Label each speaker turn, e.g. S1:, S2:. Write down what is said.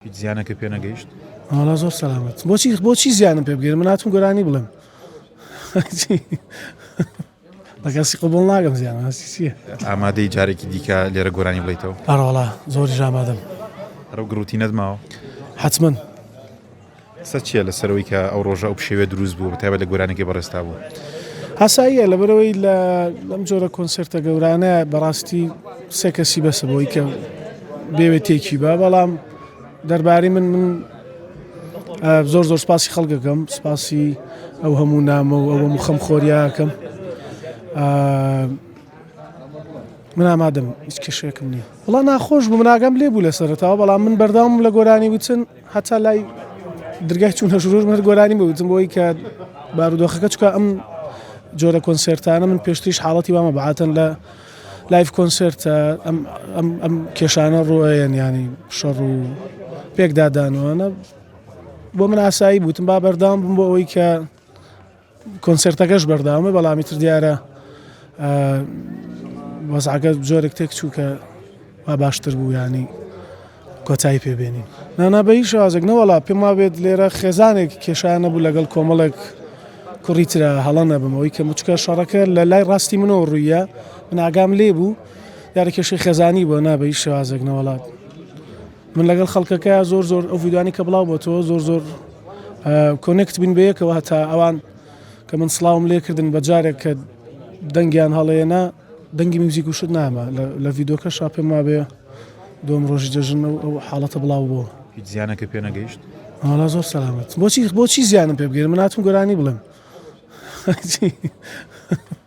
S1: هیچ زیانەکە پێ نەگەیشت؟ وەڵا زۆر سەلامەت
S2: بۆچی بۆچی زیانم پێ بگەێن من هاتم گۆرانی بڵێم بەکەسی قوبڵ ناگەم زیان هەستی چیە ئامادەی جارێکی
S1: دیکە لێرە گۆرانی بڵیتەوە ئەڕۆڵا زۆر
S2: ژامادەم ئەرە گروتی
S1: نەدماوە
S2: حتمما
S1: قسە چیە لەسەر ئەوەی کە ئەو ڕۆژە ئەو پشێویە دروست بوو بە تایبەت لە گۆرانیەکەی بەڕێز تابوو. ئاساییە
S2: لەبەرئەوەی لە لەم جۆرە کۆنسێرتە گەورانە بەڕاستی سێ کەسی بەسە بۆی کە بێوێ تێکی بە بەڵام دەرباری من من زۆر زۆر سپاسی خەڵکەکەم سپاسی ئەو هەموو نامە و ئەوە مخەم خۆریاکەم من ئامادەم هیچ کێشێکم نییە وڵا ناخۆش بوو مناگەم لێ بوو لە سەرتاوە بەڵام من بەرداوم لە گۆرانی وچن هەتا لای درگای چوونە ژوور من گۆرانی بوتم بۆی کە بارودۆخەکە چکە ئەم جۆرە کۆنسێرتانە من پێشتریش حاڵەتی وامە بەعاتەن لە لایف کۆنسرت ئەم کێشانە ڕۆیان ینی شەڕ و پێکدادانوانە بۆ من ئاسایی بوتم با بەردام بم بۆ ئەوەی کە کۆنسێرتەکەش بەردەوامە بەڵام ئیتر دیارە وەزعەکە جۆرێک تێک چوو کە وا باشتر بوو ینی کۆتایی پێبێنین نانا بە هیچ شازێک نەوەڵا پێم وابێت لێرە خێزانێک کێشانە بوو لەگەڵ کۆمەڵێک کوڕی تررا هەڵە نەبمەوەی کە مچکە شەڕەکە لە لای ڕاستی منەوە ڕوویە من ئاگام لێ بوو یارە کێشی خێزانی بۆ نابەی شازێک نەوەڵات من لەگەڵ خەڵکەکە زۆر زۆر ئەو ڤیددیوانی کە بڵاو بۆتەوە زۆر زۆر کۆنێکت بین بەیەکەوە هەتا ئەوان کە من سلااوم لێکردن بە جارێک کە دەنگیان هەڵێنە دەنگی میوزیک و شت نامە لە ڤیددیوکە شا پێم وابێ دوم ڕۆژی جەژن و ئەو حاڵەتە بڵاو بۆ هیچ زیانەکە پێ
S1: نەگەیشت هەڵا زۆر سەلامەت
S2: بۆچی بۆچی زیانم پێ بگەێن مناتون گۆرانی بڵێم